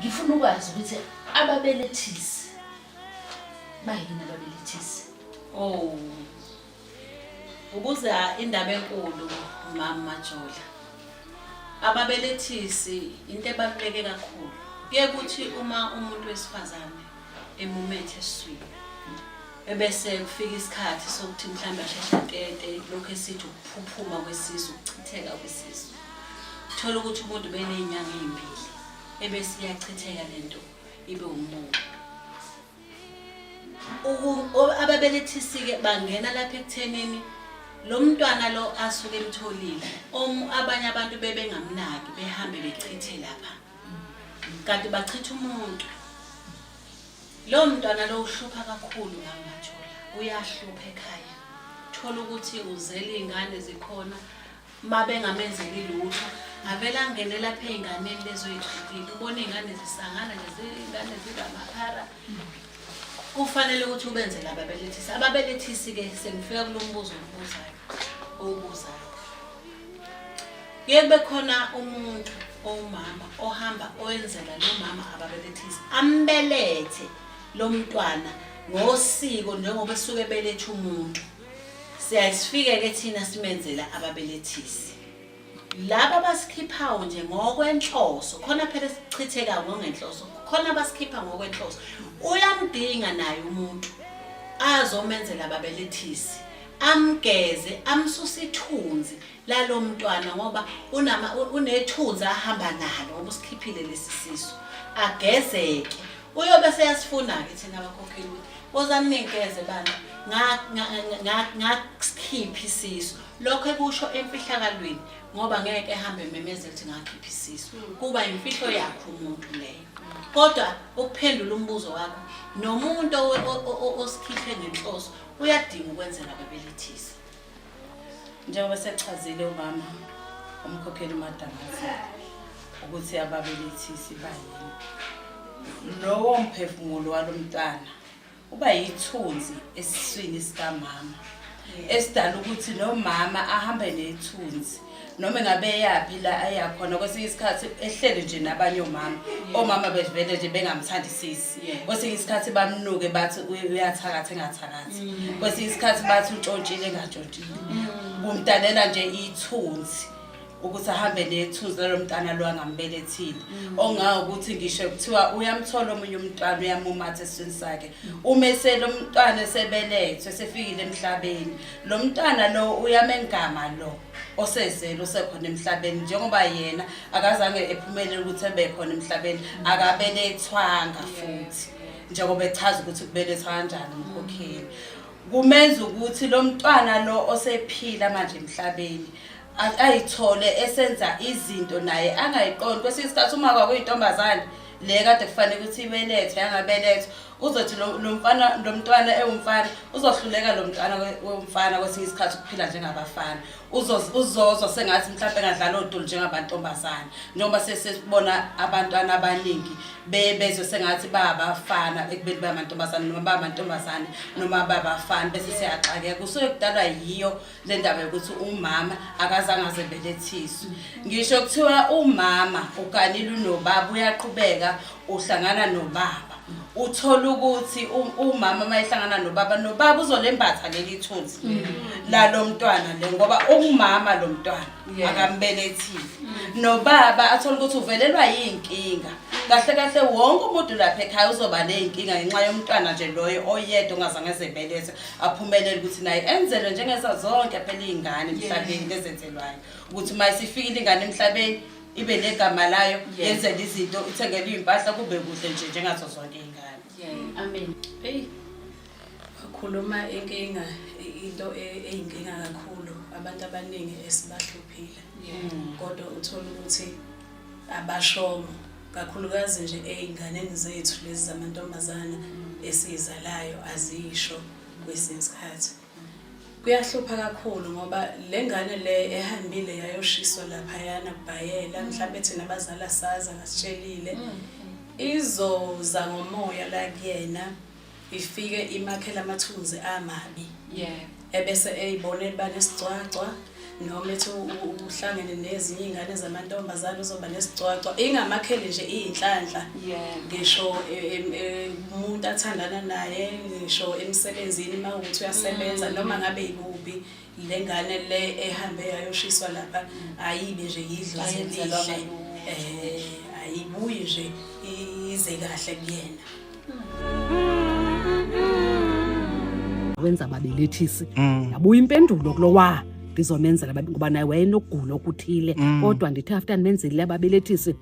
ngifuna ukwazi ukuthi ababelethisi bayini ababelethisi oh ukuza indaba enkulu mama majola ababelethisi into ebaluleke kakhulu kuye kuthi uma umuntu wesifazane emumethe eswini ebese kufika isikhathi sokuthi mhlawumbe asheshe atete lokhu esithi ukuphuphuma kwesisu ukuchitheka kwesisu thola ukuthi umuntu beney'nyanga ey'mbili ebese iyachitheka lento ibe umbuka ababelethisi-ke bangena lapha ekuthenini lo mntwana lo asuke emtholile abanye abantu bebengamnaki behambe bechithe lapha kanti bachitha umuntu lowo mntwana lo uhlupha kakhulu ngamajola uyahlupha ekhaya thola ukuthi uzela iy'ngane zikhona uma bengamenzeli lutho avele angene lapha ey'nganeni lezoyigxilile ubona iy'ngane zisangana nezingane zingamaphara kufanele ukuthi ubenzele ababelethisi ababelethisi-ke sengifika kulo mbuzo obubuzayo owubuzayo kuye kube khona umuntu owumama ohamba owenzela lo mama ababelethisi ambelethe lo mntwana ngosiko njengoba esuke beletha umuntu Siyayisifike ke thina simenzela ababelethisi. Laba basikhiphawo nje ngokwenhloso, khona phela sichitheka ngongenhloso, khona basikhipha ngokwenhloso. Uyamdinga naye umuntu azomenzela ababelethisi, amgeze, amsuse ithunzi. lalo mntwana ngoba unama unethunzi ahamba nalo ngoba usikhiphile lesi sisu agezeke uyobe seyasifuna-ke thina bakhokheli ukuthi wozani ningigeze bana ngakusikhipha isisu lokho ekusho emfihlakalweni ngoba ngeke ehambe ememezela ukuthi ngakhipha isisu hmm. kuba imfihlo yakho umuntu leyo kodwa ukuphendula umbuzo wakho nomuntu osikhihle ngenhloso uyadinga ukwenzela bebelithisa njengoba sekuchazile umama umkhokheli umadamazile ukuthi ababelethisi bayini lowo mphefumulo walo mntwana uba yithunzi esiswini sikamama esidala ukuthi nomama ahambe nethunzi noma engabe eyaphi la ayakhona kwesinye isikhathi ehlele nje nabanye omama omama bevele nje bengamthandisisi kwesinye isikhathi bamnuke bathi uyathakatha engathakathi mm. kwesinye isikhathi bathi utshontshile engatshontshile mm. kumdalela nje ithunzi ukuthi ahambe nethunzi lalo mntana lo angambelethile mm. ongawo ukuthi ngisho kuthiwa uyamthola omunye umntwana uyamumatha esiswini sakhe uma eselo mntwana esebelethwe sefikile emhlabeni lo mntana lo uyamengama lo osezele usekhona emhlabeni njengoba yena akazange ephumelele ukuthi ebe khona emhlabeni akabelethwanga futhi njengoba echaza ukuthi kubelethwa kanjani umkhokheli kumenza ukuthi lo mntwana lo osephila manje emhlabeni ayithole esenza izinto naye angayiqondi kwesinye isikhathi uma kwakuyintombazane le kade kufanele ukuthi ibelethwe yangabelethwa uzothi lo lo mfana lo mntwana ewumfana uzohluleka lo mntwana we- womfana kwesinye isikhathi ukuphila njengabafana Uzoz- uzozwa sengathi mhlawumpe engadlala odoli njengabantombazane njengoba sesibona abantwana abaningi be- bezwe sengathi babafana ekubeni bayamantombazane noma bamantombazane noma babafana bese siyaxakeka kusuke kudalwa yiyo le ndaba yokuthi umama akazange aze belethiswe ngisho kuthiwa umama uganile unobaba uyaqhubeka uhlangana nobaba uthola ukuthi umama uma ehlangana nobaba nobaba uzolembatha leli thunzi mm. lalo mntwana le ngoba umama lo mntwana akambelethile mm. nobaba athola ukuthi uvelelwa yinkinga kahle kahle wonke umuntu lapha ekhaya uzoba ney'nkinga ngenxa yomntwana nje loyo oyedwa ongazange ezebelethe aphumelele ukuthi naye enzelwe njengeza zonke phela iy'ngane emhlabeni lezenzelwayo ukuthi uma isifikile ingane emhlabeni ibe negama layo yenzele izinto ithengele iy'mpahla kube kuhle nje njengazo zonke iy'ngane amen eyi wakhuluma inkinga into e-, eyinkinga kakhulu abantu abaningi esibahluphile kodwa uthole ukuthi abashongo kakhulukazi nje ey'nganeni zethu lezi zamantombazana esiyizalayo azisho kwesinye isikhathi kuyahlupha kakhulu ngoba le ngane le ehambile yayoshiswa laphayana kubhayela mhlawumbe thina abazali asazi angasitshelile mm. izoza ngomoya la kuyena ifike imakhela amathunzi amabi yeah ebese eyibona eliba nesigcwagcwa noma ethi uhlangene nezinye iy'ngane zamantombazane uzoba nesigcwagcwa ingamakhele nje iy'nhlanhla ngisho e, e, e, umuntu athandana naye ngisho emsebenzini uma ukuthi uyasebenza mm. noma ngabe yibubi Le ngane le ehambe yayoshiswa lapha ayibe nje yidlozi elihle eh ayibuyi nje ize kahle kuyena wenza babelethisi Mm. yabuya impendulo kulowa ngizomenzela babe- ngoba naye wayenokugula okuthile Mm. kodwa ndithe after ndimenzile ababelethisi